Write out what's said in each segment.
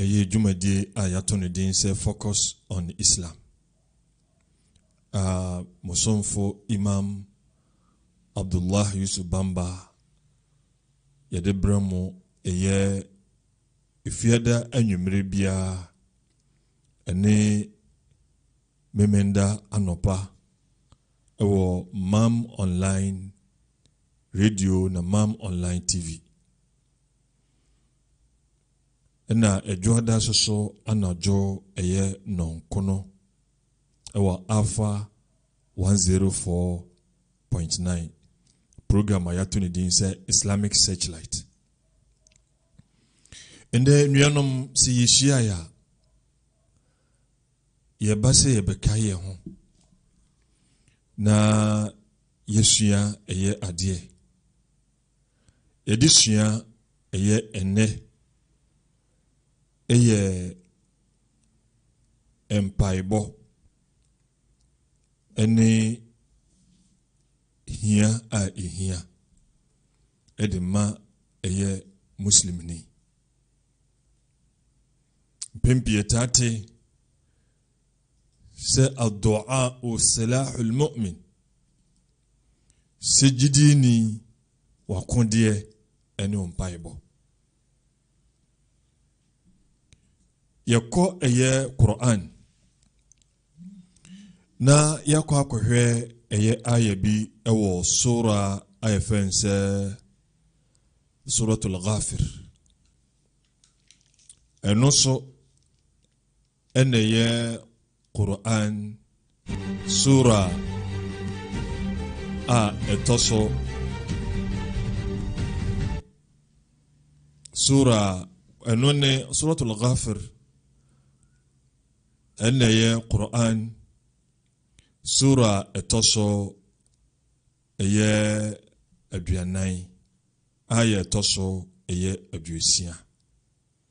Ɛyɛ dwumadie a yɛato no din sɛ Focus on Islam a mo somfo Imam Abdullah Yusuf Bamba yɛde brɛ mo ɛyɛ Efiada anwummere biara ɛne Memenda anɔpa ɛwɔ Mam Online Radio na Mam Online TV. Nna Edwoadaase so anadwo yɛ nnɔnkono wɔ Alpha one zero four point nine, program a yɛato ne din sɛ Islamic Searchlight. Ndɛ nuanom sɛ yehyiae a, yɛba sɛ yɛbɛkae yɛn ho na yɛasua ɛyɛ adeɛ. yɛde sua ɛyɛ ɛnnɛ yɛ mpaebɔ ne hia a ɛhia de ma ɛyɛ muslimni. Mpɛn pii ɛtaate sɛ adoa o salahul mu'min Sɛ gyidini, w'akodeɛ ne wo mpaebɔ. Yɛkɔ ɛyɛ Quran na yɛakɔ akɔhwɛ ɛyɛ ayɛ bi wɔ sora a yɛfrɛ no sɛ Suratul Ghafir. Ɛno so ɛna ɛyɛ Qur'an sura a ɛtɔ so sura ɛno ne suratul ghafir ɛna ɛyɛ Qur'an sura ɛtɔ so ɛyɛ aduanan ayɛ ɛtɔ so ɛyɛ aduosia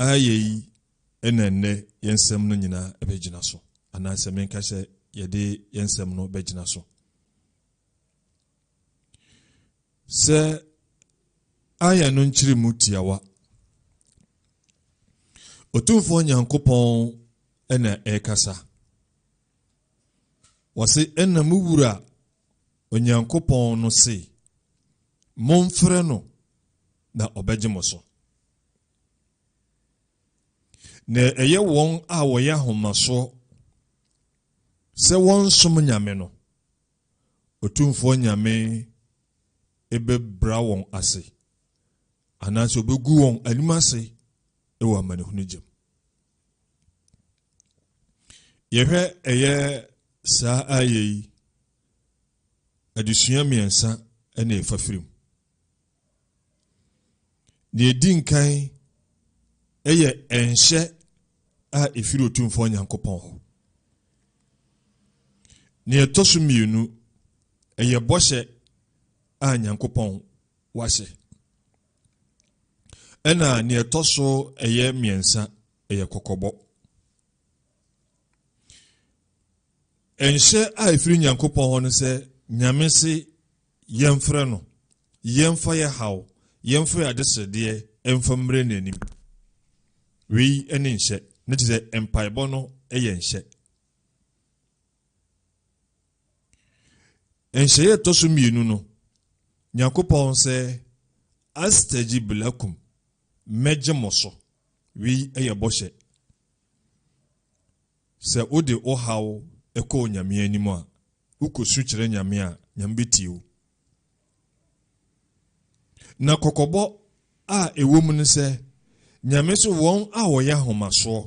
Aha yei na ɛnnɛ yɛn nsɛm no nyinaa bɛgyina so, anaasɛ menka sɛ yɛde yɛn nsɛm no bɛgyina so. Sɛ ayɛ no nkyerɛ mu tiawa. Otumfoɔ Nyankopɔn na ɛrekasa. Wɔse ɛna mu wura Onyankopɔn no se, Momfrɛ no na ɔbɛgye mo so. Na ɛyɛ wɔn a wɔyɛ ahomasoɔ sɛ wɔnsom Nyame no, Otumfoɔ Nyame bɛbra wɔn ase, anaasɛ ɔbɛgu wɔn anim ase wɔ amanehunu gyam. Yɛhwɛ ɛyɛ saa ayɛ yi adesua mmiɛnsa na ɛfa firi mu. Deɛ ɛdi nkan yɛ ɛnhyɛ a ɛfiri Otumfoɔ Nyankopɔn hɔ. Deɛ ɛtɔ so mmienu, ɛyɛ bɔhyɛ a Nyankopɔn wahyɛ. Ɛna deɛ ɛtɔ so ɛyɛ mmiɛnsa, ɛyɛ kɔkɔbɔ. Nhyɛ a ɛfiri Nyankopɔn hɔ no sɛ Nyame se yɛmfrɛ no, yɛmfa yɛ haw, yɛmfa yɛ adesrɛdeɛ mfa mmerɛ n'anim. Wei ne nhyɛ. Ne te sɛ mpaebɔ no yɛ nhyɛ. Nhyɛeɛ ɛtɔ so mmienu no, Nyankopɔn sɛ astajib lakum, mɛgye mo so. Wei yɛ bɔhyɛ. Sɛ wode wo haw kɔ Onyame anim a, wokɔsu kyerɛ Nyame a, Nyame bɛtie wo. Na kɔkɔbɔ a ɛwɔ mu ne sɛ, Nyame so wɔn a wɔyɛ ahomasoɔ,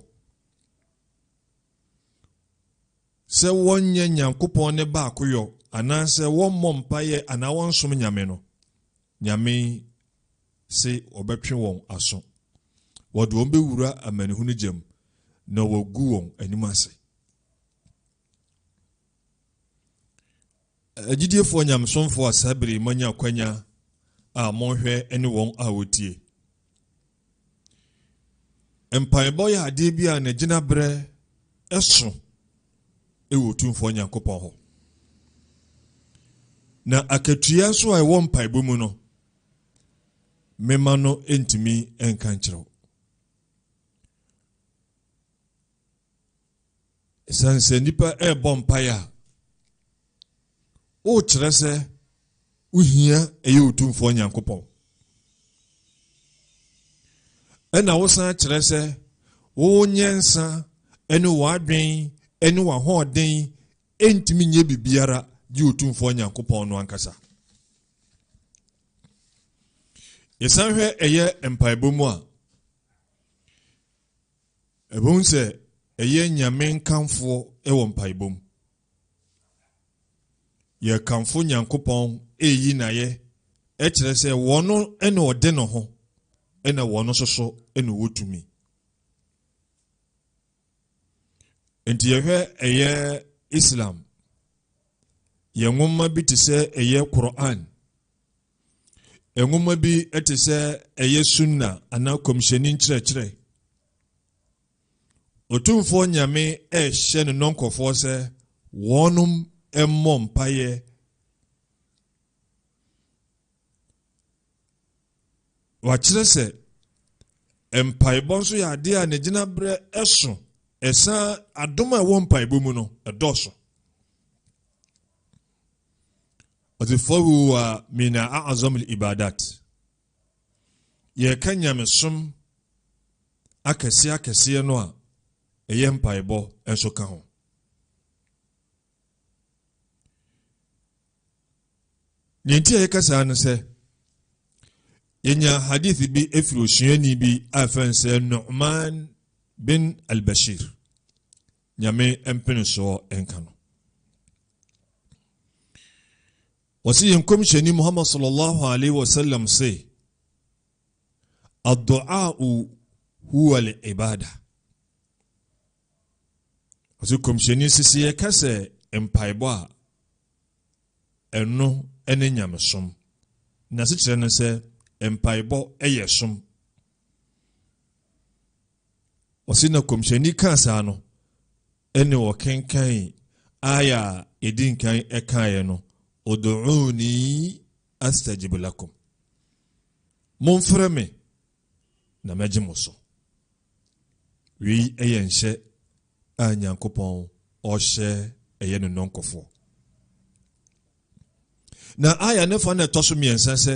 sɛ wɔnyɛ Nyankopɔn ne baakoyɔ, anaasɛ wɔmmɔ mpaeɛ anaa wɔnsom Nyame no, Nyame se wɔbɛtwe wɔn aso, wɔde wɔn bɛwura amanehunu gya mu, na wɔagu wɔn anim ase. Agyidiefoɔ nyamesomfoɔ a saa bere yi moanya akwanya a monhwɛ ne wɔn a wɔtie. Mpaebɔ yɛ adeɛ bi a n'agyina berɛ ɛso ɛwɔ Otumfoɔ Nyankopɔn hɔ. Na akatua nso a ɛwɔ mpaebɔ mu no, mema no ntumi nka nkyerɛ wo. Esiane sɛ nnipa rebɔ mpaeɛ a, wokyerɛ sɛ wohia ɛyɛ otumfoɔ nyankopɔn ɛna wosan kyerɛ sɛ wowɔ nyansa ne w'adwen ne w'ahoɔden ntumi nyɛ biribiara gye otumfoɔ nyankopɔn no ankasa yɛsan hwɛ ɛyɛ mpaebɔ mu a Ɛbɛhu sɛ ɛyɛ Nyame nkamfoɔ wɔ mpaebɔ mu. Yɛkamfo Nyankopɔn ɛyi N'ayɛ ɛkyerɛ sɛ wɔno na ɔde ne ho ɛna wɔno nso so na ɔwɔ tumi. Nti yɛhwɛ ɛyɛ Islam yɛn nwoma bi te sɛ ɛyɛ Qur'an Nwoma bi te sɛ ɛyɛ sunna anaa kɔmhyɛni nkyerɛkyerɛ. Otumfoɔ Nyame ɛrehyɛ ne nɔnkɔfoɔ sɛ wɔnom mmɔ mpaeɛ wakyerɛ sɛ mpaebɔ nso yɛ adeɛ a ne gyinaberɛ ɛso ɛsan adom a ɛwɔ mpaebɔ mu no ɛdɔɔso ɔdze fɔrow wa min a'azam al-ibadat yɛreka nyamesom akɛse akɛseɛ no a ɛyɛ mpaebɔ nso ka ho deɛ nti a yɛka saa no sɛ yɛnya hadith bi ɛfiri osuani bi a ɛfɛn sɛ nu'man bin al-bashir Nyame mpenesoɔ nka no. Wɔsi yɛn kɔmhyɛni Muhammad sallallahu alaihi wasallam se, Adu'a'u huwa li ibada. Wɔsi kɔmhyɛni sisi yɛ kɛsɛ mpaebɔ a ɛno ne nyamesom. Nasekyerɛ ne sɛ mpaebɔ yɛ som. Ɔse na Kɔmhyɛni kaa saa no, ɛne ɔkenkan aya a ɛdi nkan ɛkaeɛ no, Udu'uni astajib lakum. Momfrɛ me na mɛgye mo so. Wei ɛyɛ nhyɛ a Nyankopɔn ɔhyɛ ɛyɛ ne nɔnkɔfoɔ. Na aya ne fa na ɛtɔ so mmiɛnsa sɛ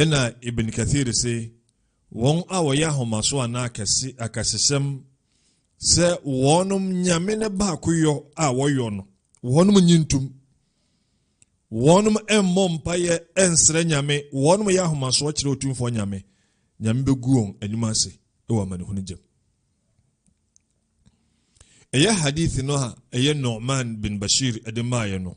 Ɛnna Ibn Kathir se, Wɔn a wɔyɛ ahomaso anaa akɛse, akɛsesɛm, sɛ wɔnom nyame no baakoyɔ a wɔyɔ no, wɔnom nyi ntom. Wɔnom mmɔ mpaeɛ ɛnsrɛ nyame, wɔnom yɛ ahomasoɔ kyerɛ otumfoɔ nyame. Nyame bɛgu wɔn anim ase wɔ amanehunu gyam. ɛyɛ hadith no a ɛyɛ Nu'man bin Bashir ɛde maaeɛ no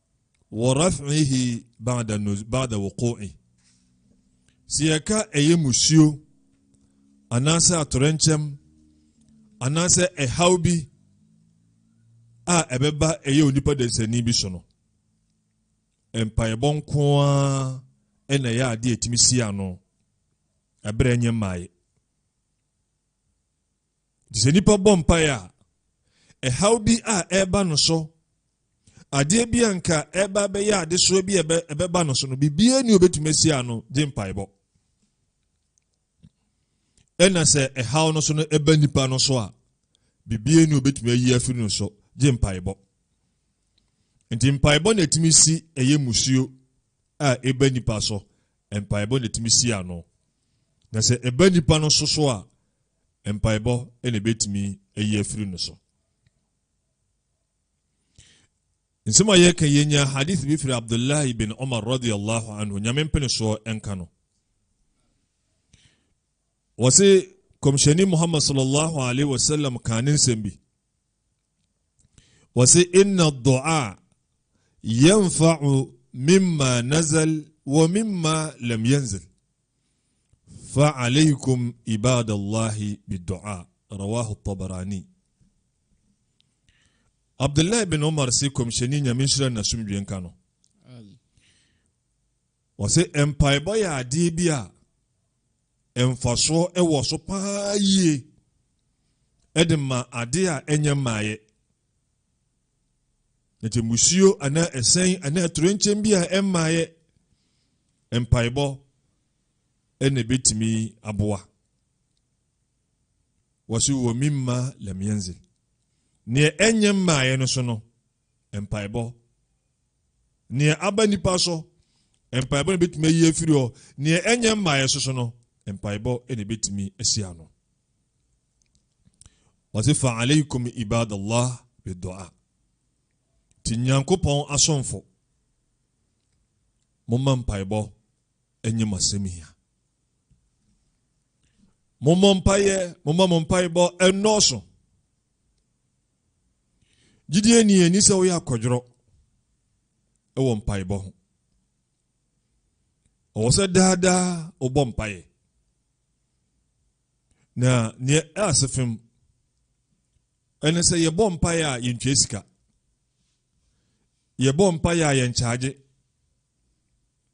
Wɔ raf'ihi ba'da nuz ba'da wuqu'i. Sɛ yɛka ɛyɛ musuo anaasɛ atorɛnkyɛm anaasɛ ɛhaw bi a ɛbɛba ɛyɛ onipa dasani bi so no mpaebɔ nko ara ɛna ɛyɛ adeɛ ɛtumi si ano ɛberɛ nyɛ mmaeɛ Nti sɛ nipa bɔ mpaeɛ a, ɛhaw bi a ɛreba no so, adeɛ bi a nka ɛreba abɛyɛ adesoa bi a ɛbɛba no so no, biribiara ni obɛtumi asi ano gye mpaebɔ. Ɛna sɛ ɛhaw no so no ɛba nipa no so a, biribiara ni obɛtumi ayi afiri no so gye mpaebɔ. Nti mpaebɔ na ɛtumi si ɛyɛ musuo a ɛba nipa so, mpaebɔ na ɛtumi si ano. Na sɛ ɛba nipa no so so a, mpaebɔ na ebetumi ayi afiri no so. nsɛm a yɛka yɛnya hadith bi firi abdullah ibn umar radiallahu anhu nyame mpene soɔ ɛnka no wɔse kɔmhyɛni muhammad sallallahu alaihi wasallam kaa ne nsɛm bi wɔse inna dua yanfa'u mimma nazal wa mimma lam yanzil Fa aleikum ibadallahi bidu'a, rawahu Tabarani. Abdullah bin Umar se kɔmhyɛni nyame nhyira n'asomdwe nka no. Wɔse mpaebɔ yɛ adeɛ bi a mfasoɔ wɔ so paa yie de ma adeɛ a ɛnyɛ mmaeɛ. na te musuo anaa ɛsɛn anaa atorenkyɛm bi a ɛmmaeɛ mpaebɔ ɛna ɛbɛtumi aboa wɔso wɔ mi mma lamiɛnze neɛ ɛnyɛ mmaeɛ no so no mpaebɔ neɛ aba nipa so mpaebɔ na ɛbɛtumi ayi afiri hɔ neɛ ɛnyɛ mmaeɛ so so no mpaebɔ ɛna ɛbɛtumi asi ano Ɔse fa aleikum ibadallah bi du'a. Nti Nyankopɔn asomfo, momma mpaebɔ nyɛ mo asɛmhia. Mommɔ mpaeɛ, momma mo mpaebɔ nnɔɔso. Gyidie ni ɛni sɛ woyɛ akɔdworɔ ɛwɔ mpaebɔ ho. Ɔwɔ sɛ daa daa wobɔ mpaeɛ. Na neɛ ɛase fam ɛne sɛ yɛbɔ mpaeɛ a yɛntwa sika. Yɛbɔ mpaeɛ a yɛnkyagye.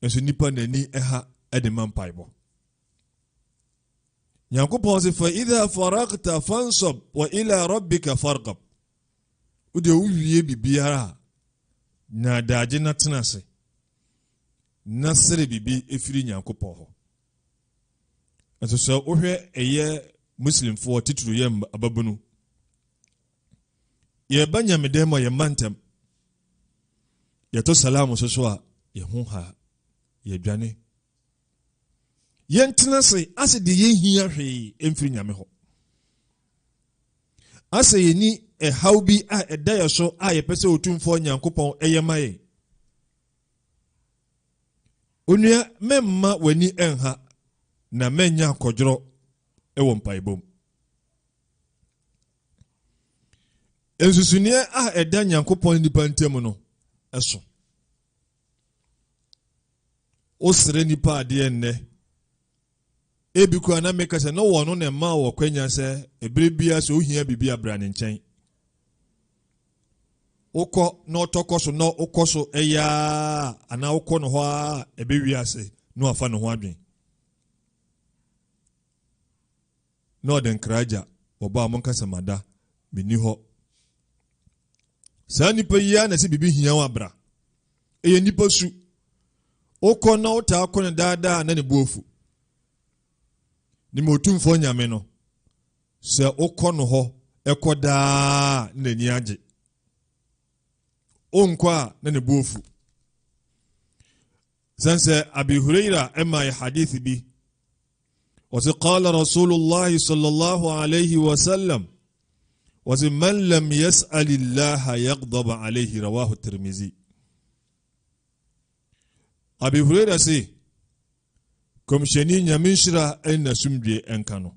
Nso nipa n'ani ɛha ɛde ma mpaebɔ. Nyankopɔn se fa idha farakta fansɔb wa ila rabbika fargab. Wodeɛ wowie biribiara a, nya adagye na tena ase na sere biribi ɛfiri Nyankopɔn hɔ. Nso sɛ wohwɛ ɛyɛ Muslimfoɔ titiri yɛ ababunu, yɛba nyamedɛn mu a yɛmma ntɛm, yɛto salaam so so a yɛho ha yɛdwane yɛntena ase ase deɛ yɛnhia hwee mfiri nyame hɔ asɛ yɛni ɛhaw bi a ɛda yɛ so a yɛpɛ sɛ ɔtumfoɔ nyankopɔn ɛyɛ ma yɛn onua mɛmma w'ani ɛnha na mɛnya akɔdworɔ ɛwɔ mpaebom nsusuneɛ a ɛda nyankopɔn nnipa ntam no ɛso wosrɛ nnipa adeɛ nnɛ ebi koraa na meka sɛ na wɔn no na ɛma wɔ kwanya sɛ ebere biara sɛ ohia biribi abira ne nkyɛn wokɔ na ɔtɔ kɔ so na wokɔ so ɛyɛ a anaa wokɔ no hɔ a ɛbɛwie ase na wafa ne ho adwen Na ɔde nkra agya wɔba a monka sɛ mada menni hɔ saa nipa yi ara na ɛsɛ biribi hia wo abra ɛyɛ nipa su wokɔ na wotaa kɔ no daadaa na ne boafu ne ma otumfoɔ nyame no sɛ wokɔ no hɔ ɛkɔ daa na n'ani agye wonkɔ a na ne boafu Sɛn sɛ Abi Huraira ɛmae hadith bi. Wɔsi qala Rasulullah sallallahu alayhi wa sallam. Wɔsi man lam yas'alillaha yaghdab alayhi rawahu Tirmizi. Abi Huraira se kɔmhyɛni nyame nhyira ne n'asomdwe nka no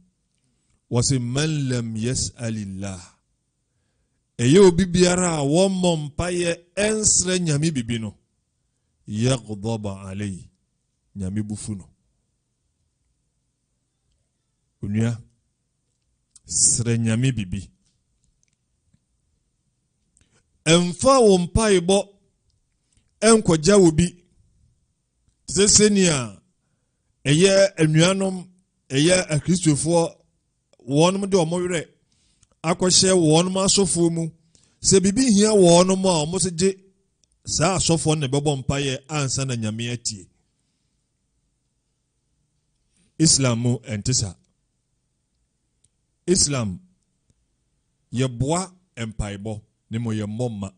wɔse man lam yasalillah ɛyɛ obi biara a wɔmmɔ mpaeɛ ɛnsrɛ nyame bibi no Yaghdaba alei, Nyame bo fu no. Onua, srɛ Nyame bibi. Ɛmfa wo mpaebɔ ɛnkɔgya wo bi. Te sɛ sɛnea ɛyɛ anuanom, ɛyɛ akristofoɔ wɔnom de wɔn werɛ akɔhyɛ wɔnom asɔfoɔ mu sɛ biribi hia wɔnom a wɔn se gye saa asɔfoɔ no bɛbɔ mpaeɛ ansa na nyame atie islam mu ɛnte saa islam yɛboa mpaebɔ ne mo yɛmmɔ mma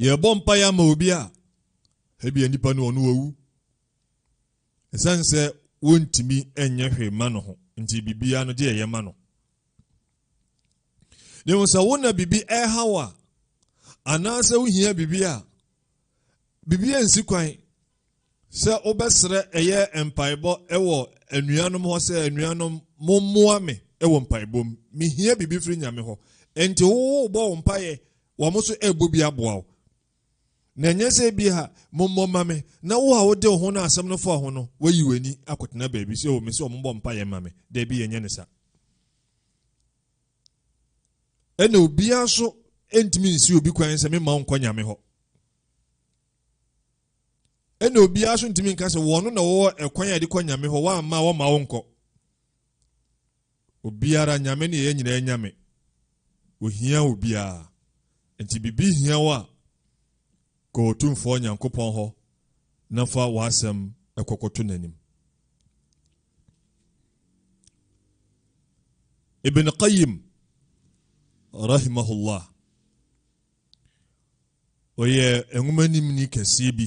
yɛbɔ mpaeɛ ama obi a ebia nipa no ɔno wawu Esiane sɛ wontumi nyɛ hwee mma no ho nti, biribiara no gye ɛyɛ ma no. Na mmom sɛ wo na biribi ɛreha wo a, anaasɛ wohia biribi a, biribi ansi kwan sɛ wobɛsrɛ ɛyɛ mpaebɔ wɔ anuanom hɔ sɛ anuanom mommoa me wɔ mpaebɔ mu mehia biribi firi nyame hɔ ɛnti wowobɔ wo mpaeɛ wɔn nso ɛrebɔ bi aboa wo Na ɛnyɛ sɛ bi a mommɔ ma me, na wo a wode wo ho na asɛm no fa ho no, woayi w'ani akɔtena baabi sɛ, o, me sɛ wɔmmɔ mpaeɛ ma me. Daabi, ɛnyɛ ne sa. Ɛna obiara nso ntumi nsi obi kwan sɛ memma nkɔ nyame hɔ. Ɛna obiara nso ntumi nka sɛ wɔn na wɔwɔ ɛkwan a yɛde kɔ nyame hɔ, wɔamma wɔmma wo nkɔ. Obiara, Nyame ne yɛn nyinaa Nyame. Ohia obiara. Nti biribi hia wo a, kɔ Otumfoɔ Nyankopɔn hɔ na fa w'asɛm kɔkɔto n'anim. Ibn Qayyim rahimahullah ɔyɛ nwoma nimni kɛseɛ bi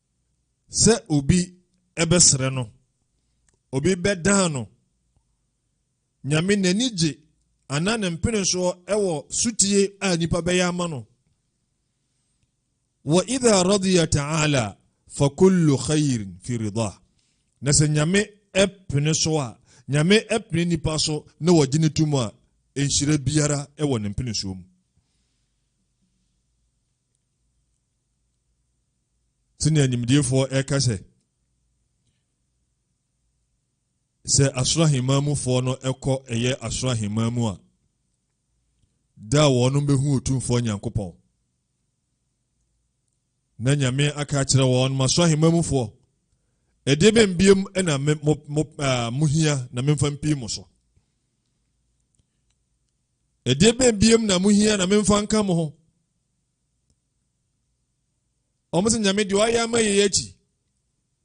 sɛ obi bɛsrɛ no, obi bɛdan no. Nyame n'ani gye anaa ne mpenesoɔ wɔ sotie a nipa bɛyɛ ama no. Wa idha radiya ta'ala fa kullu khairin fi rida. Na sɛ Nyame pene so a, Nyame pene nipa so na wɔgye ne tom a, nhyira biara wɔ ne mpenesoɔ mu. sɛnea nimdeefoɔ ɛka sɛ sɛ asoro ahemman mufoɔ no ɛkɔ ɛyɛ asoro ahemman mu a da a wɔnom bɛhu otumfoɔ nyankopɔn na nyame aka akyerɛ wɔn ma asoro ahemman mufoɔ ɛdeɛ bɛ mbiem na mohia na memfa mpii mo so ɛdeɛ bɛ mbiem na mohia na memfa nka mo ho wɔn sɛ nyame deɛ ɔayɛ ama yɛn akyi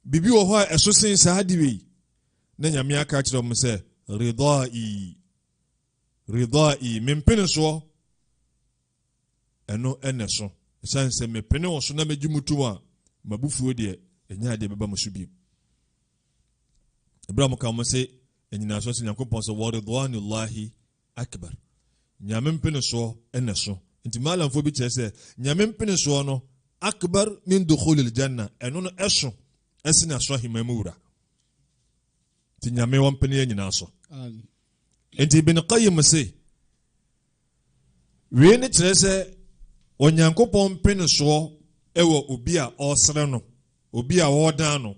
biribi wɔ hɔ a ɛso sen saa de wei na nyame aka kyerɛ wɔn sɛ ridɔi ridɔi mempene soɔ ɛno ɛnɛ so ɛsiane sɛ mepene wɔ so na megye mu tom a mabufuo deɛ ɛnyɛ adeɛ bɛba mo so bio ɛberɛ a mo ka mo se ɛnyina so sɛ nyankopɔn sɛ wɔridɔanillahi Akbar. Nyame mpenesoɔ na ɛso. Nti Malamfoɔ bi kyerɛ sɛ, Nyame mpenesoɔ no, Akbar min dukhulil Jannah, ɛno no ɛso sene asoro aheman mu wura. Nti Nyame ɔmpene yɛn nyinaa so. Nti Ibn Qayyim se, wei ne kyerɛ sɛ Onyankopɔn mpenesoɔ wɔ obi a ɔresrɛ no, obi a ɔredan no,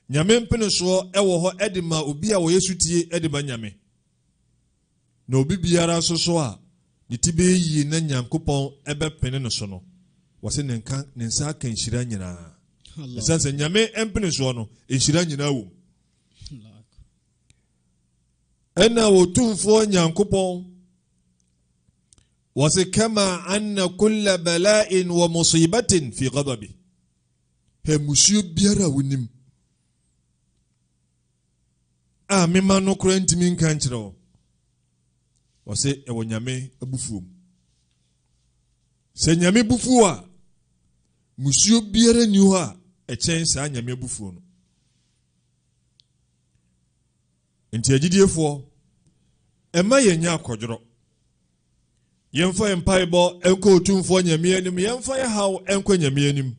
Nyame mpenesoɔ wɔ hɔ de ma obi a ɔyɛ sotie de ma Nyame. Na obi biara nso so a ne ti bɛyɛ yie na Nyankopɔn bɛpene no so no, wɔse ne nka ne nsa aka nhyira nyinaa. Ɛsiane sɛ Nyame mpenesoɔ no, nhyira nyinaa wom. Ɛna Otumfoɔ Nyankopɔn wɔse kama anna kulla bala'in wa musibatin fi ghadabi. Pɛ mmusuo biara a wonim a me mma no koraa ntumi nka nkyerɛ wo. Ɔse ɛwɔ Nyame abufuo mu. Sɛ Nyame bufuo a, mmusuo biara nni hɔ a ɛkyɛn saa Nyame abufuo no. Enti agyidiefoɔ, mma yɛnnya akɔdworɔ. Yɛmfa yɛn mpaebɔ nkɔ Otumfoɔ Nyame anim, yɛmfa yɛn haw nkɔ Nyame anim.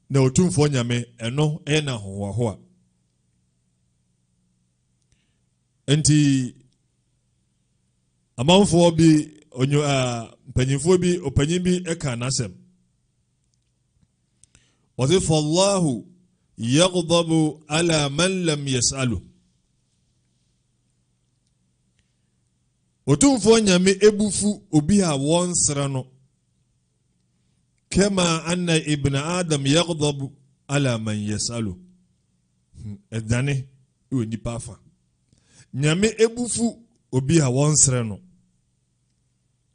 Na Otumfoɔ Nyame, ɛno yɛ n'ahohoahoa. Enti amanfoɔ bi, onyo, uh, mpanyinfoɔ bi, ɔpanyin bi ka n'asɛm. Wɔse fallahu yaghdabu ala man lam yas'alu. Otumfoɔ Nyame ebufu obi a wɔnsrɛ no. Kama anna ibn Adam yaghdabu ala man yas'alu. Ɛdane hmm, wɔ nipa afa. Nyame ebufu obi a wɔnsrɛ no.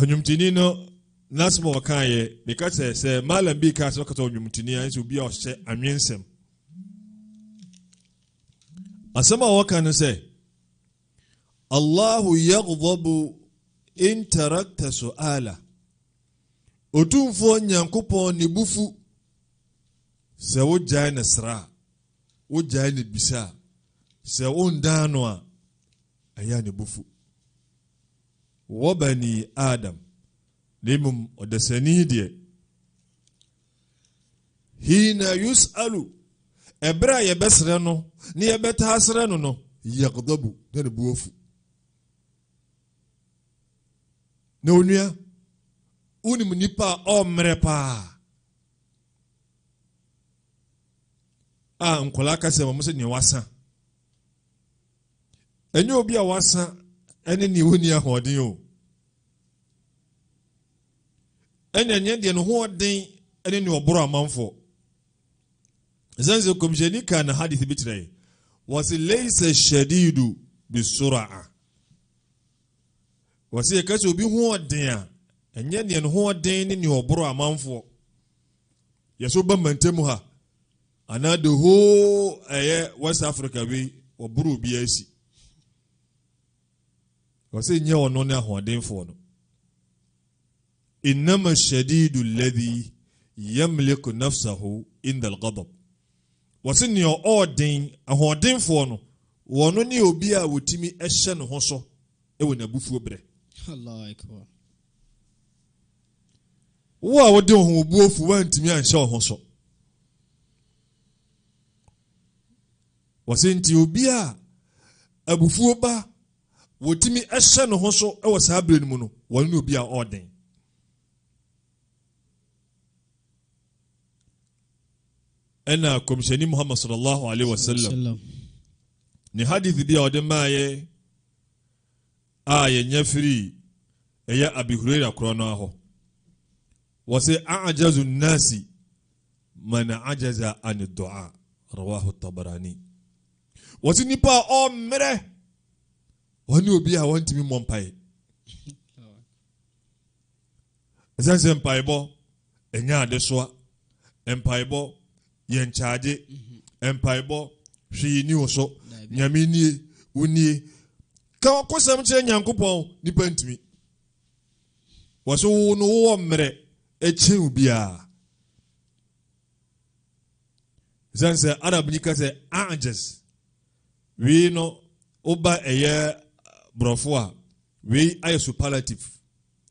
ɔnwomtoni no n'asɛm a ɔkaeɛ meka sɛ sɛ malam bi kaa sɛ ɔkasa ɔnwomtoni a ɛsɛ obi a ɔhyɛ anwensɛm asɛm a wɔka no sɛ allahu yaghdhabu in tarakta su'ala otumfoɔ nyankopɔn ne bufu sɛ wogyae ne sra a wogyae ne bisa a sɛ wondan no a ɛyɛ ne bufu Wɔ bani Adam, na mmom ɔdasani deɛ. Hiina yus'alu, ɛberɛ a yɛbɛsrɛ no, na yɛbɛtaa srɛ no no, yagdabu, na ne bo afu. Na onua, wonim nipa a ɔmmerɛ paa a nkwadaa ka sɛ wɔn sɛ nea wasa ɛnyɛ obi a wasa ne nea ɔnni ahoɔden o ɛna ɛnyɛ deɛ ne ho ɔden ne nea ɔboro amanfoɔ ɛsiane sɛ kɔmhyɛni kaa na hadith bi kyerɛ wɔse leisa shadidu bisoraa wɔse yɛka sɛ obi ho ɔden a ɛnyɛ deɛ ne ho ɔden ne nea ɔboro amanfoɔ yɛsɛ woba mmantam ha Ana the whole ɛyɛ West Africa wei wɔboro obiara asi. Wɔsɛ nyɛ ɔno ne ahoɔdenfoɔ no. Innama shadidu alladhi yamliku nafsahu inda al-ghadab. Wɔsɛ nea ɔɔden ahoɔdenfoɔ no wɔno ne obi a wɔtumi hyɛ ne ho so wɔ n'abufuo berɛ. Wo a wode wo ho wo bo afu woantumi anhyɛ wo ho so. Wɔse nti obi a abufuo ba wɔtumi hyɛ ne ho so wɔ saa berɛ no mu no wɔne obi a ɔɔden ɛna kɔmhyɛni muhammad sallallahu alaihi wasallam ne hadith bi a ɔde maayɛ a yɛnya firii ɛyɛ Abi Huraira korɔ no ara hɔ. Wɔse, A'jazu nnasi man ajaza ani du'a, rawahu Tabarani. Wɔse nipa a ɔmmerɛ, ɔne obi a ɔntumi mmɔ mpaeɛ. Ɛsɛ sɛ mpaebɔ ɛnyɛ adesoa. Mpaebɔ yɛ nkyagye. Mhm. Mpaebɔ hwee ni wo so. Nyame nie, wo nie. Ka wakosɛm kyerɛ Nyankopɔn, nipa ntumi. Wɔ so wo no wowɔ mmerɛ ɛkyen wo biara. Ɛsɛne sɛ Arab ni ka sɛ ajes. Wei no woba ɛyɛ borɔfo a wei ayɛ superlative.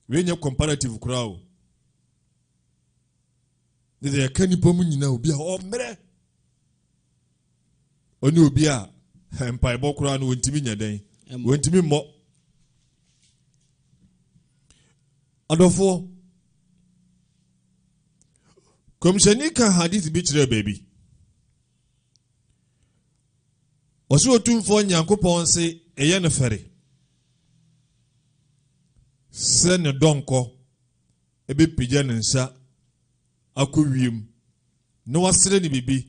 Wei nyɛ comparative koraa o. Ne deɛ ɛka nipa mu nyinaa obi a ɔmmerɛ ɔne obi a mpaebɔ koraa no wɔntumi nyɛ dɛn wɔntumi mmɔ adɔfoɔ kɔmhyɛni ka hadith bi kyerɛ baabi Ɔsoro Otumfoɔ Nyankopɔn se ɛyɛ no fɛre sɛ ne dɔnkɔ bɛpagya ne nsa akɔ wiem na wasrɛ ne biribi.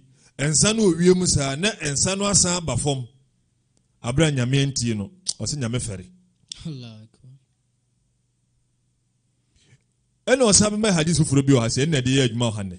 Nsa no wɔ wiem saa na nsa no asan aba fam abere a Nyame antie no. Ɔse Nyame fɛre. Ɛna ɔsan bɛma hadis foforɔ bi wɔ ha sɛ ɛna ɛde yɛ adwuma wɔ ha nnɛ.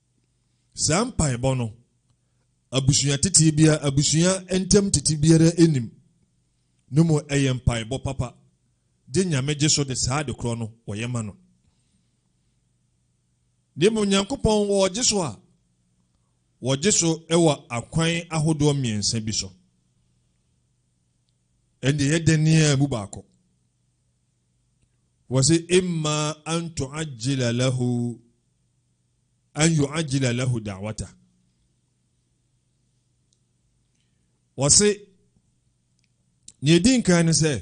Saa mpaebɔ no, abusua tete biara, abusua ntam tete biara nnim, no mu ɛyɛ mpaebɔ papa, gye Nyame gye so de saa ade korɔ no wɔyɛ ma no. Ne mmom Nyankopɔn wɔgye so a, wɔgye so wɔ akwan ahodoɔ mmiɛnsa bi so. Ɛnde yɛ dɛn ne a mu baako. Wɔse imma an tu'ajjila lahu an yu'ajjila lahu da'watah. Wɔse, nea edi nkan ne sɛ,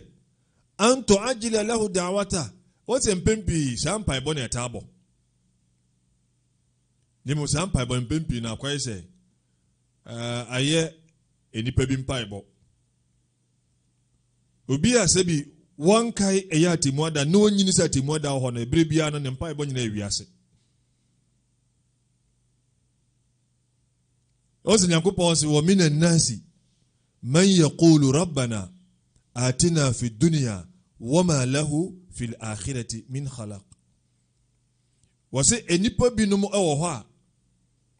an tu'ajjila lahu da'watah. Wɔse mpɛn pii saa mpaebɔ na ɛtaa bɔ. Ne mu saa mpaebɔ mpɛn pii na akɔyɛ sɛ eh, ayɛ nnipa bi mpaebɔ. Obi a sɛ bi wɔnkae ɛyɛ atemmu ada na onyini sɛ atemmu ada wɔ hɔ no, ɛberɛ biara no ne mpaebɔ nyinaa yɛ wiase. ɔsɛ nyankopɔn se wɔ mina nasi man yaqulu rabbana atina fi dunia wama lahu fi lakhirati min khalaq wɔ se nnipa binom wɔ hɔ a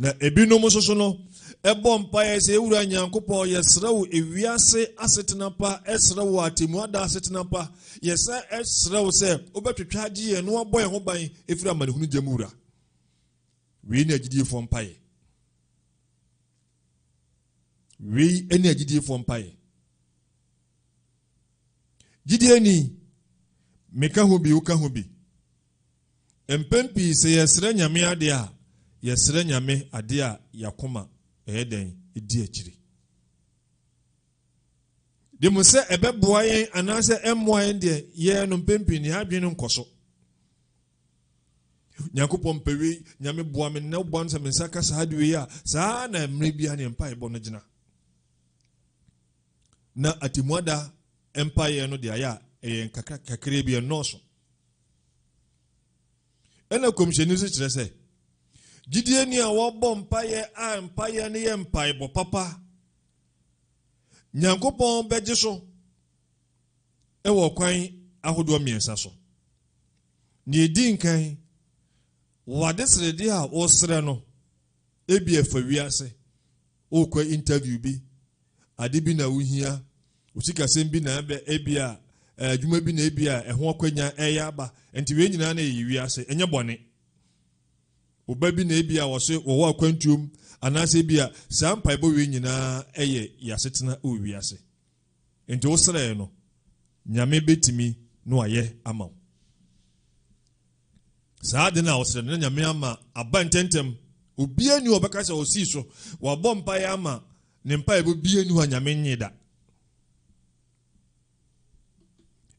Na ebinom nso so no, ɛbɔ mpaeɛ sɛ, Ewura Nyankopɔn, yɛsrɛ wo ewiase asetena pa, ɛsrɛ wo atemmu ada asetena pa. Yɛsan ɛsrɛ wo sɛ wobɛtwetwe agye yɛn na wabɔ yɛn ho ban efiri amanehunu gya mu wura. Wei ne agyidiefoɔ mpaeɛ. Wei ne agyidiefoɔ mpaeɛ. Gyidieni, meka ho bi, woka ho bi. Mpɛn pii sɛ yɛsrɛ Nyame ade a, yɛsrɛ Nyame ade a y'akoma ɛyɛ dɛn? Ɛdi akyire. Dem sɛ ɛbɛboa yɛn anaasɛ ɛmmoa yɛn deɛ, yɛɛ no mpɛn pii no yɛn adwene no nkɔ so. Nyankopɔn mpɛ wei, Nyame boa me nnɛ boa no sɛ me nsa ka saa de wei a, saa na mmerɛ biara ne mpaebɔ no gyina. Na atemmuada mpaeɛ no deɛ ayɛ a ɛyɛ nkakra kakra bi ɛnnɔɔso. Ɛna kɔmhyɛni nso kyerɛ sɛ gyidie ni a wɔbɔ mpaeɛ a mpaeɛ no yɛ mpaebɔ papa nyankopɔn bɛgye so wɔ kwan ahodoɔ mmiɛnsa so deɛ ɛdi nkan wɔade srɛdeɛ a wɔsrɛ no Ebia ɛfa wiase, worekɔ interview bi, ade bi na wohia, wo sikasɛm bi na ɛbɛ, ebia eh, adwuma bi na ebia ɛho akwanya ɛyɛ aba. Nti wei nyinaa na ɛyɛ wiase, ɛnyɛ bɔne. Wo ba bi na ebia wɔse wɔwɔ akwantuom, anaasɛ ebia saa mpaebɔ wei nyinaa ɛyɛ yɛasetena wɔ wiase. Enti wo srɛɛ no, Nyame bɛtumi na wayɛ ama wo. Saa ade no a wɔsrɛ no na Nyame ama aba ntɛntɛm. Obiara ni ɔbɛka sɛ ɔsii so, wabɔ mpaeɛ ama ne mpaeɛ bɔ biara ni hɔ a Nyame nye da.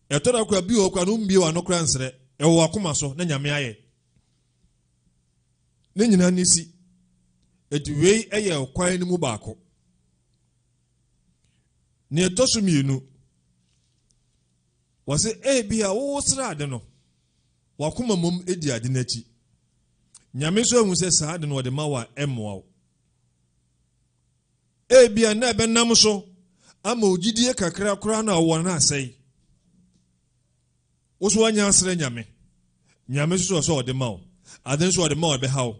Ɛtɔ da kora bi wɔ kora no mbie wano kora nsrɛ, ɛwɔ wakoma so na Nyame ayɛ. Ne nyinaa ne si. Eti wei yɛ kwan no mu baako. Nea ɛtɔ so mmienu, wɔsɛ ebi a wowo sra ade no, wakoma mmom di ade no akyi. Nyame nso ahu sɛ saa ade no wɔde ma wo a ɛmmoa wo. Ebi a na ɛbɛnam so ama ogyidie kakra koraa na ɔwɔ no asɛe. Wo so wanya asrɛ Nyame. Nyame nso sɛ ɔde ma wo. Ade nso ɔde ma wo ɛbɛha wo.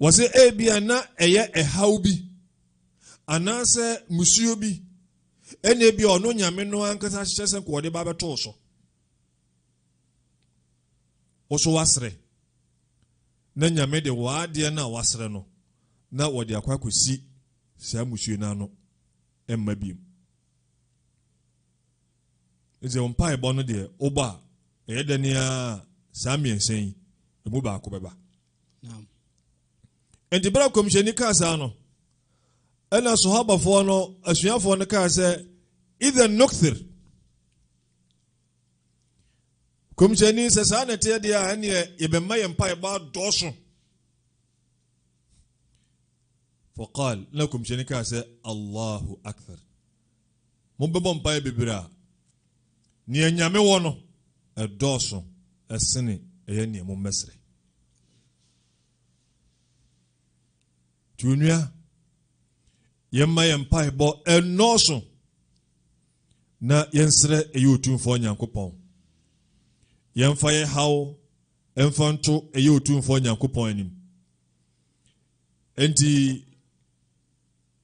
Wɔsɛ ebia na ɛyɛ ɛhaw bi anaasɛ musuo bi ɛna ebia ɔno nyame no ankasa ahyehyɛ sɛ nkɔɔde ba bɛtoo so wɔso wasrɛ na nyame de wɔadeɛ no a wasrɛ no na wɔde akɔ akɔsi saa musuo no ano ɛmma biem ɛsɛ wo mpaebɔ no deɛ wobɔ a ɛyɛ dɛ ne a saa mmiɛnsa yi ɛmu baako bɛba Enti bere a kɔmhyɛni kaa saa no, ɛna sohabafoɔ no asuafoɔ no kaa sɛ idhan nukthir kɔmhyɛni sɛ saa na ɛteɛ deɛ a ɛneɛ yɛbɛma yɛn mpaebɔ adɔɔso faqal na kɔmhyɛni kaa sɛ allahu akthar Mobɛbɔ mpaeɛ bebree a, deɛ Nyame wɔ no dɔɔso sene ɛyɛ deɛ mommɛsrɛ. Nti onua, yɛmma yɛn mpaebɔ nnɔɔso na yɛnsrɛ ɛyɛ Otumfoɔ Nyankopɔn. Yɛmfa yɛn haw mfa nto ɛyɛ Otumfoɔ Nyankopɔn anim. Enti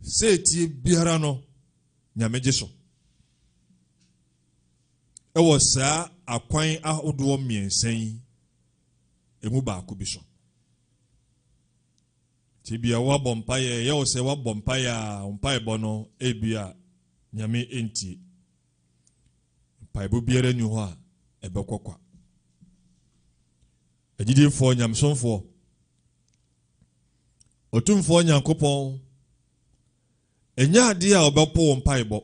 Setie biara no, Nyame gye so. Ɛwɔ saa akwan ahodoɔ mmiɛnsa yi ɛmu baako bi so. Nti bia woabɔ mpaeɛ ɛyɛ wo sɛ woabɔ mpaeɛ a wo mpaebɔ no ebi a nyame ɛntie mpaebɔ biara nni hɔ a ɛbɛkɔ kwa agyidiefoɔ nyamesomfoɔ Otumfoɔ Nyankopɔn, ɛnyɛ adeɛ a ɔbɛpo wo mpaebɔ.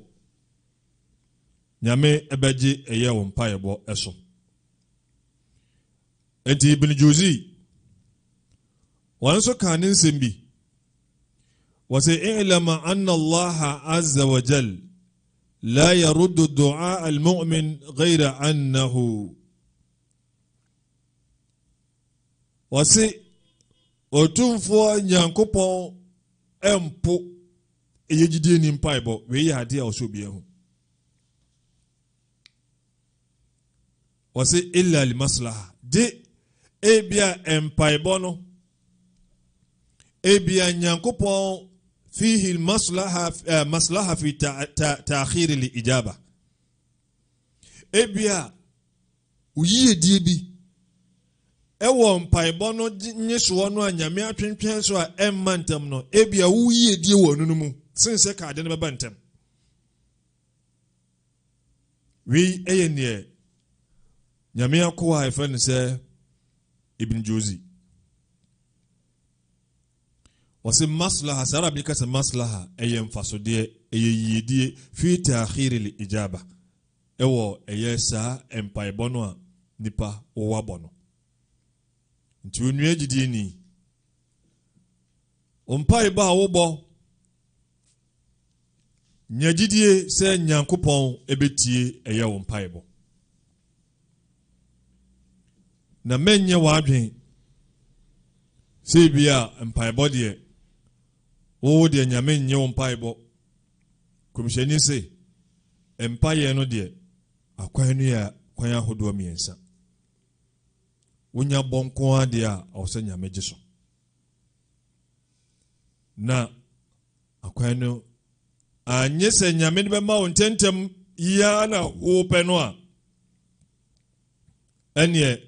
Nyame ɛbɛgye ɛyɛ wo mpaebɔ ɛso. Enti Ibn Juzi, wɔn nso kaa ne nsɛm bi. Wɔsɛ, I'lama anna Allah azza wa jal, la yaruddu du'a al-mu'min ghayra annahu Wɔse Otumfoɔ Nyankopɔn mpo ɛyɛ gyidie ni mpaebɔ. Wei yɛ adeɛ a ɔsɛ obi ahu. Wɔse illa li maslaha. Gye ebia mpaebɔ no ebia Nyankopɔn fihi maslaha, eh, maslaha fi ta'khiri li ijaba. Ebia Wo yiyedie bi wɔ mpaebɔ no nyesoɔ no a Nyame atwentwɛn so a ɛmma ntɛm no, ebia wo yiyedie wɔ ɛno no mu sen sɛ ka ade no bɛba ntɛm. Wei yɛ neɛ Nyame akoa a ɛfrɛ no sɛ Ibn Jozi. Wɔse maslaha, saa Arabi kasa maslaha ɛyɛ mfasodeɛ, ɛyɛ yiyedie fi taakhiri li ijaba. wɔ ɛyɛ saa mpaebɔ no a nnipa wɔ abɔ no. Nti onua gyidini, wo mpaebɔ a wobɔ, nya gyidie sɛ Nyankopɔn ɛbɛtie ɛyɛ wo mpaebɔ. Na mɛnyɛ w'adwen sɛ bi a mpaebɔ deɛ wowo deɛ Nyame nnye wo mpaebɔ Nkɔmhyɛni se, Mpaeɛ no deɛ, akwan no yɛ kwan ahodoɔ mmiɛnsa. Wonya bɔ nko ara deɛ a, ɛwɔ sɛ Nyame gye so. Na akwan no, anyɛ sɛ Nyame de bɛma wo ntɛntɛm yiaa na wopɛ no a, ɛneɛ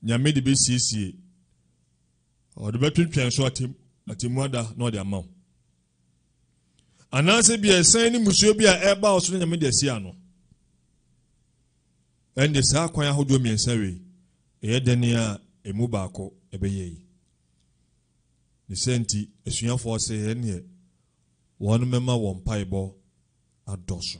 Nyame de bɛsiesie, ɔde bɛtwentwɛn so atemmu ada na ɔde ama wo. anaasɛ bi ɛsan ne mmusua bi a ɛreba wo so no nyame de asi ano ɛnde saa kwan ahodoɔ mmiɛnsa wei ɛyɛ dɛn a ɛmu baako ɛbɛyɛ yi ne sɛ nti asuafoɔ sɛ ɛneɛ wɔn mɛma wɔn mpaebɔ adɔso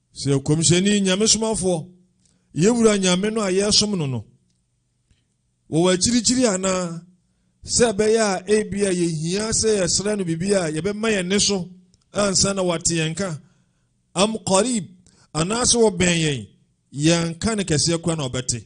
Sɛ nkɔmhyɛni, Nyamesomafoɔ, yɛ Wura Nyame no a yɛresom no no, wɔ w'akyirikyiri anaa, sɛ ɛbɛyɛ a ebi a yɛhia sɛ yɛsrɛ no biribi a yɛbɛma yɛn ne so ansa na wate yɛn ka, am qarib, anaasɛ wɔbɛn yɛn, yɛn ka no kɛseɛ koraa na ɔbɛte.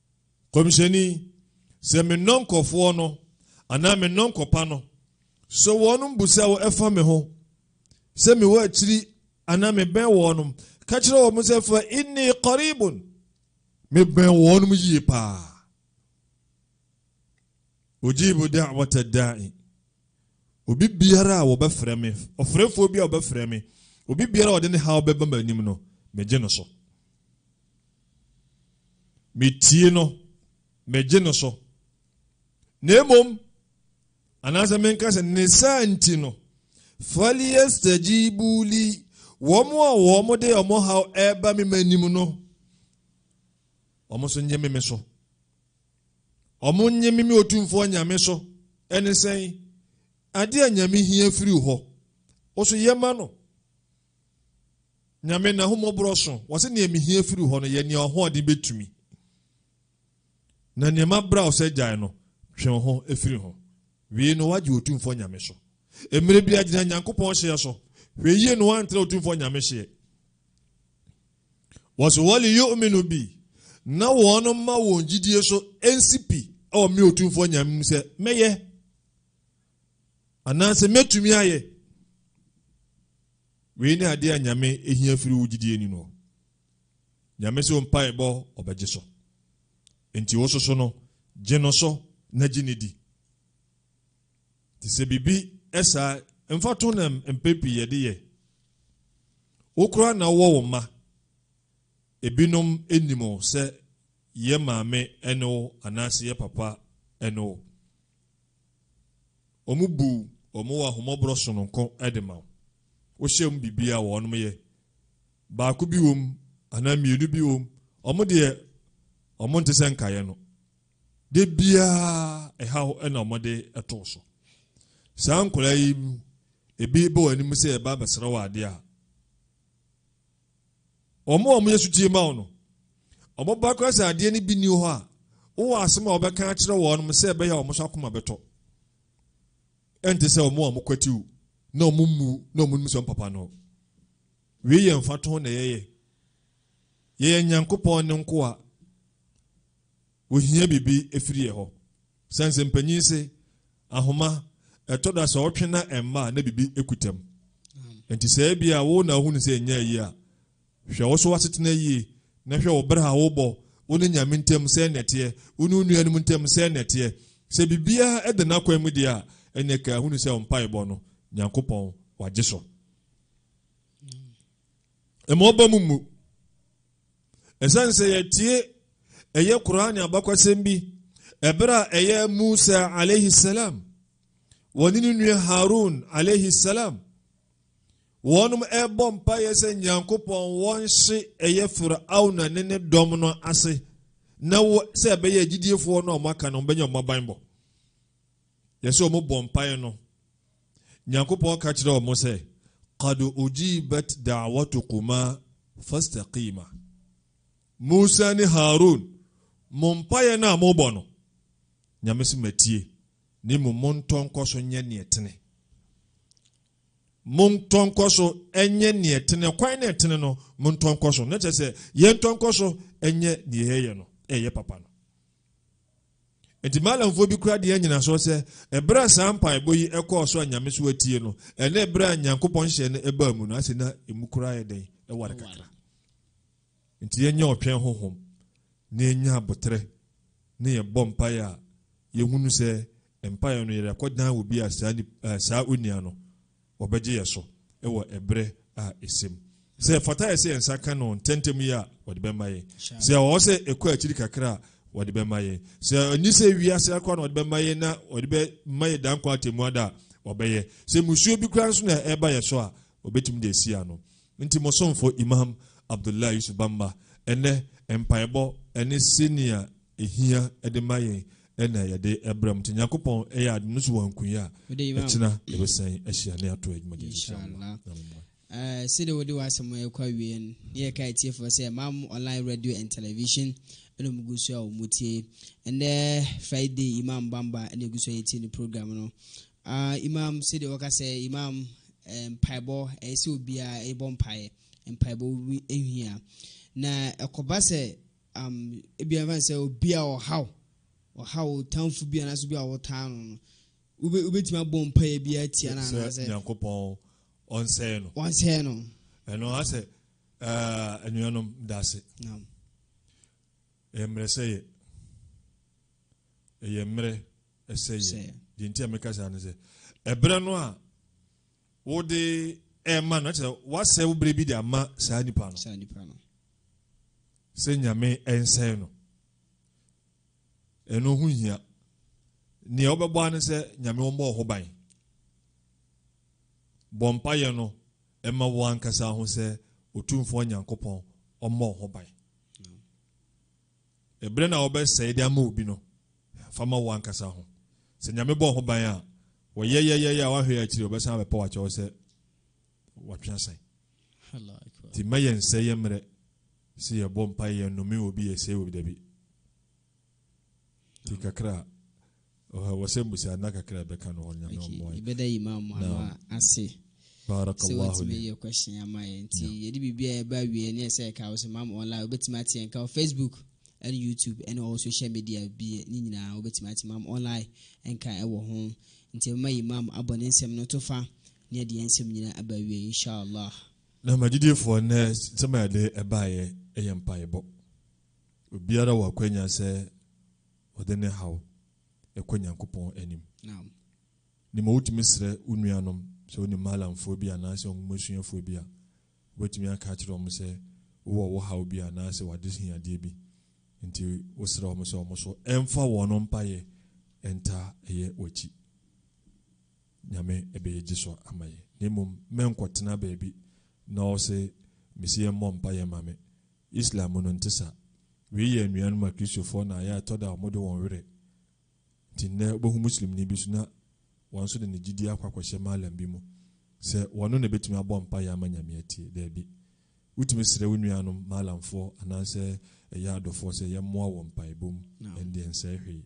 Kɔmhyɛni, sɛ me nnɔnkɔfoɔ no anaa me nnɔnkɔpa no, sɛ wɔnom busa wo ɛfa me ho, sɛ me wɔ akyiri anaa me bɛn wɔnom, ka kyerɛ wɔn sɛ fa inni qaribun, me bɛn wɔnom yie paa. Ojibu da'wata da'i. Obi biara a wɔbɛfrɛ me, ɔfrɛfoɔ bi a wɔbɛfrɛ me, obi biara a ɔde ne haw bɛba m'anim no, megye no so. Metie no, megye no so. Na mmom, anaasɛ menka sɛ ne saa nti no, falyastajibu li, wɔn a wɔde wɔn haw ɛreba me m'anim no, wɔn nso nye me me so. Wɔn nye me me otumfoɔ nyame so. Ɛne sɛn? Adeɛ a nyame hia firi hɔ, wo so yɛ ma no. Nyame n'ahummɔborɔ so, wɔse nea mehia firi hɔ no yɛ nea ɔhoɔden bɛtumi. Na nea mabra wo sɛ gyae no, twe wo ho firi ho. Wie no woagye Otumfoɔ Nyame so. Mmerɛ biara gyina Nyankopɔn hyeɛ so. Hwɛ yie na woantra Otumfoɔ Nyame hyeɛ. Wɔse wɔli yu'minu bi, na wɔn mma wɔn gyidie so nsi pi wɔ me Otumfoɔ Nyame mu sɛ mɛyɛ. Anaasɛ mɛtumi ayɛ. Wei ne adeɛ a Nyame ɛhia firi wo gyidie ni no. Nyame sɛ mpae bɔ ɔbɛgye so. Nti wo soso no, gye no so na gye ne di. Te sɛ biribi ɛsaa, mfa to na mpɛ pii yɛde yɛ. Wo koraa na wowɔ wo mma. Ebinom ɛnim sɛ yɛ maame ɛne wo anaasɛ yɛ papa ɛne wo. Wɔbu wɔn wɔ ahummɔborɔ sononko de ma wo. Wohyɛ mu biribiara wɔ wɔnom yɛ. Baako bi wom anaa mmienu bi wom, wɔn deɛ wɔn nte sɛ nkaeɛ no. Da biara ɛhaw na wɔde ɛto so. Saa nkwadaa yi mu ebi bɔ wɔn anim sɛ ɛba abɛsrɛ wɔ adeɛ a, Wɔn a wɔyɛ sotie ma wo no, wɔba koraa sɛ adeɛ no bi nni hɔ a, wowɔ asɛm a wɔbɛka akyerɛ wɔn sɛ ɛbɛyɛ a wɔn nso akoma bɛtɔ. Ɛnte sɛ wɔn a wɔkwatiw na wɔmmu na wɔnnim sɛ ɔmpapa no. Wei yɛ mfatoho na yɛyɛ. Yɛyɛ Nyankopɔn ne nkoa. Wohia biribi firi yɛ hɔ. Sɛ nsɛmpanyin se, Ahoma, ɛtɔ da sɛ ɔtwe na ɛmma a na biribi kuta mu. Enti sɛ ebia wo na ohunu sɛ ɛnyɛ ayi a, hwɛ wo so w'asetena yie na hwɛ wo bra a wobɔ wo ne Nyame ntam sɛn na ɛteɛ, wo ne wo nuanom ntam sɛn na ɛteɛ. Sɛ biribiara da n'akwan mu deɛ a, ɛnneɛ ka hunu sɛ wo mpaebɔ no, Nyankopɔn wagye so. Mma ɔba mu mmu. Esiane sɛ yɛatie ɛyɛ Qur'aan abakɔsɛm bi ɛberɛ a ɛyɛ Musa alayhi salam wɔne ne nua Harun alayhi salam wɔnom ɛrebɔ mpaeɛ sɛ Nyankopɔn wɔnhye ɛyɛ Fir'auna ne ne dɔm no ase na wo sɛ ɛbɛyɛ agyidiefoɔ no a wɔaka no wɔbɛnya wɔn abanbɔ Na sɛ wɔn bɔ mpaeɛ no, Nyankopɔn ka kyerɛ wɔn sɛ, Qad ujibat da'watukuma fastaqima. Musa ne Harun, mo mpaeɛ no a mobɔ no, Nyame se matie, na mmom montɔ nkɔ so nyɛ neɛ tene. Montɔ nkɔ so nyɛ neɛ tene, kwan na ɛtene no, montɔ nkɔ so. Na kyerɛ sɛ, yɛntɔ nkɔ so nyɛ neɛ yɛyɛ no, ɛyɛ papa no. Enti Malamfoɔ bi kora deɛ nyinasoɔ sɛ, ɛberɛ a saa mpaebɔ yi ɛkɔɔ so a Nyame so atie no, ɛne ɛberɛ a Nyankopɔn hyɛ no ɛbaa mu no, ase na ɛmu koraa yɛ dɛn? Ɛware kakra. Nti yɛnyɛ ɔtwɛn honhom na yɛnya aboterɛ na yɛbɔ mpaeɛ a, yɛhunu sɛ mpaeɛ no yɛde akɔdan wɔ bi a saa, saa onua no wɔbɛgye yɛn so wɔ ɛberɛ a ɛsɛ mu. Sɛ ɛfata yɛ sɛ yɛn nsa ka no ntɛntɛm yi a, wɔde bɛma yɛn. Sɛ ɛwɔ sɛ ɛkɔ akyiri kakra a, wɔde bɛma yɛn. Sɛ ɛni sɛ ɛwi ase akora na wɔde bɛma yɛn na wɔde bɛma yɛn dankwa atɛmu ada a, wɔbɛyɛ. Sɛ musuo bi koraa nso na ɛba yɛ so a, wɔbɛtumi de asi ano. Nti mo somfo Imam Abdullah Yusuf Bamba, ɛnnɛ mpaebɔ ne sɛnea ɛhia de ma yɛn na yɛde brɛ mu nti nyankopɔn ɛyɛ ade no so wɔ nkunyɛ a ɛkyena yɛbɛsan ahyia ne ato adwuma de eh, sɛdeɛ wode w'asɛm ɛkɔ awie no ne yɛka atiefoɔ sɛ mam online radio and television ɛna ɔmugu so a ɔmutie ɛnɛ friday imam bamba ɛna ɛgu so a yɛtie ne program no uh, imam sɛdeɛ wɔka sɛ imam eh, mpaebɔ ɛyɛ sɛ obiaa ɛbɔ mpaeɛ mpaebɔ ɛhia na ɛkɔba sɛ Um, ebi a ɛfan sɛ obi a ɔhaw, ɔhaw otanfo bi anaasɛ obi a ɔtaa no no, wobɛ wobɛtumi abɔ mpaeɛ bi atia no anaasɛ. Nyankopɔn ɔnsɛe no. Ɔnsɛe no. Ɛno asɛ eh, anuanom daase. Naam. Ɛyɛ mmerɛ sɛ yɛ. Ɛyɛ mmerɛ ɛsɛ yɛ. Deɛ nti a meka saa no sɛ, ɛberɛ no a Wode rema no, kyerɛ woasɛe wo berɛ bi de ama saa nipa no. Sɛ Nyame nsɛe no. Ɛno ho hia. Nea wobɛbɔ ano sɛ Nyame wɔmmɔ wo ho ban. Bɔ mpayɛ no ɛma wo ankasa ho sɛ Otumfoɔ Nyankopɔn ɔmmɔ wo ho ban. Bere na wɔbɛsɛe de ama obi no, fa ma wo ankasa ho. Sɛ Nyame bɔɔ ho ban a, wɔyɛ yɛ yɛ yɛ a woanhwɛ yɛ akyiri a, ɔbɛsan abɛpaw akyɛ wo sɛ watwe asan. Nti mma yɛnsɛe yɛ mmerɛ sɛ yɛbɔ mpae, yɛnnome obi, yɛsɛe obi, dabi. Nti kakra a. Ɔhɛ wɔ sɛ mbusa nna kakra ɛbɛka no hɔ nyame ɔmmoa yɛ. Okay, yɛbɛda Imam ano ase sɛ watumi yɛ question ama yɛ nti yɛde biribi a ɛba wie ne ɛsɛ ɛka wo so Imam online wobɛtumi ate yɛn ka wɔ Facebook ɛne YouTube ɛne ɔwɔ social media bi ne nyinaa wobɛtumi ate Imam online ɛnka ɛwɔ ho nti ɛbɛma Imam abɔ ne nsɛm no to fa ne ɛde yɛn nsɛm nyinaa aba wie inshallah. Na magyidiefoɔ nnɛ nsɛm a yɛde ɛbaeɛ ɛyɛ mpaebɔ obiara wɔ akwanya sɛ Ɔde ne haw kɔ Nyankopɔn anim. Ne ma wotumi srɛ wo nuanom, sɛ wo ne Maalamfoɔ bi anaasɛ Nwomasuafoɔ bi a, wobɛtumi aka akyerɛ wɔn sɛ wowɔ wo haw bi anaasɛ w'adehiadeɛ bi nti wosrɛ wɔn sɛ wɔn so mfa wɔn mpaeɛ ntaa yɛ w'akyi. Nyame bɛyɛ gyesɔ ama yɛn. Na mmom mɛnkɔtena baabi na ɔse mese yɛmmɔ mpaeɛ ma me. Islam mu no nte saa. Wei yɛ anuanom Akristofoɔ na ayɛ a ɛtɔ da a wɔde wɔn werɛ. Nti nnɛ wobɛhu Muslimni bi nso na wɔn nso de ne gyidie akɔ akɔhyɛ Mallam bi mu sɛ wɔno na ɛbɛtumi abɔ mpaeɛ ama Nyame atie. Daabi. Wotumi srɛ wo nuanom Mallamfoɔ anaasɛ ɛyɛ adɔfoɔ sɛ yɛmmoa wɔ mpaebɔ mu, ɛnde ɛnsɛe hwee.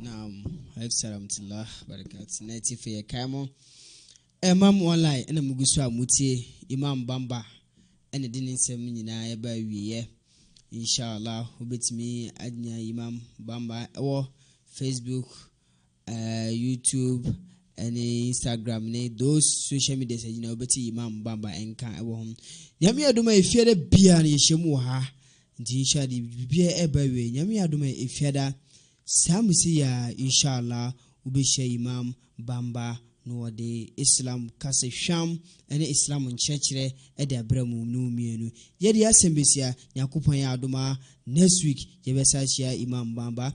Naam, alaikum salam barakat. Na ti fe kai mo. Emam online na mugu so a mutie Imam Bamba ɛna de ne nsɛm nyinaa ɛba awieɛ. Inshallah wobɛtumi anya Imam Bamba ɛwɔ Facebook eh, YouTube ne Instagram ne those social medias a nyinaa wobɛte Imam Bamba nka wɔ ho. Nyame adom a efiada biara no yɛhyɛ mu wɔ ha. Nti inshallah de biribiara ɛba wie. Nyame adom a efiada saa mu sɛ yɛ inshallah wobɛhyia Imam Bamba na wɔde Islam kasahwam ne Islam nkyerɛkyerɛ de abrɛ mu ne mu mmienu. Yɛde asɛm bɛsia, Nyankopɔn yɛ adom a next week yɛbɛsa ahyia Imam Bamba.